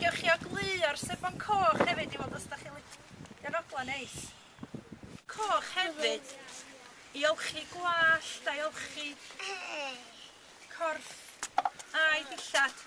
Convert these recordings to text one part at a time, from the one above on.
Gewch chi ogleuo'r sebon coch hefyd i weld os dach chi'n lic- Ma'n ogla neis. Coch hefyd i olchi gwallt a'i olchi corff a'i dillad.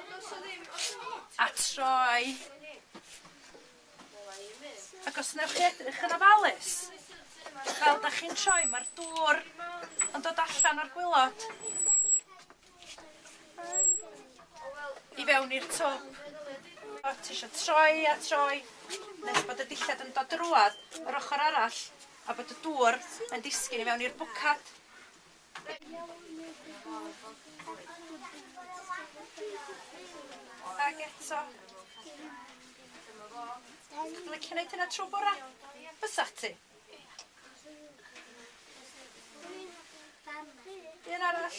Ond os o ddim, os o ddim... A troi. Ac os newch chi edrych yn ofalus, fel 'dach chi'n troi, ma'r dŵr yn dod allan o'r gwilod i fewn i'r twp. O, ti isio troi a troi, nes bod y dillad yn dod drwadd yr ochr arall, a bod y dŵr yn disgyn i fewn i'r bwcad. Ag eto. Ti'n licio neud hynna trw bora? Fysach ti? Un arall.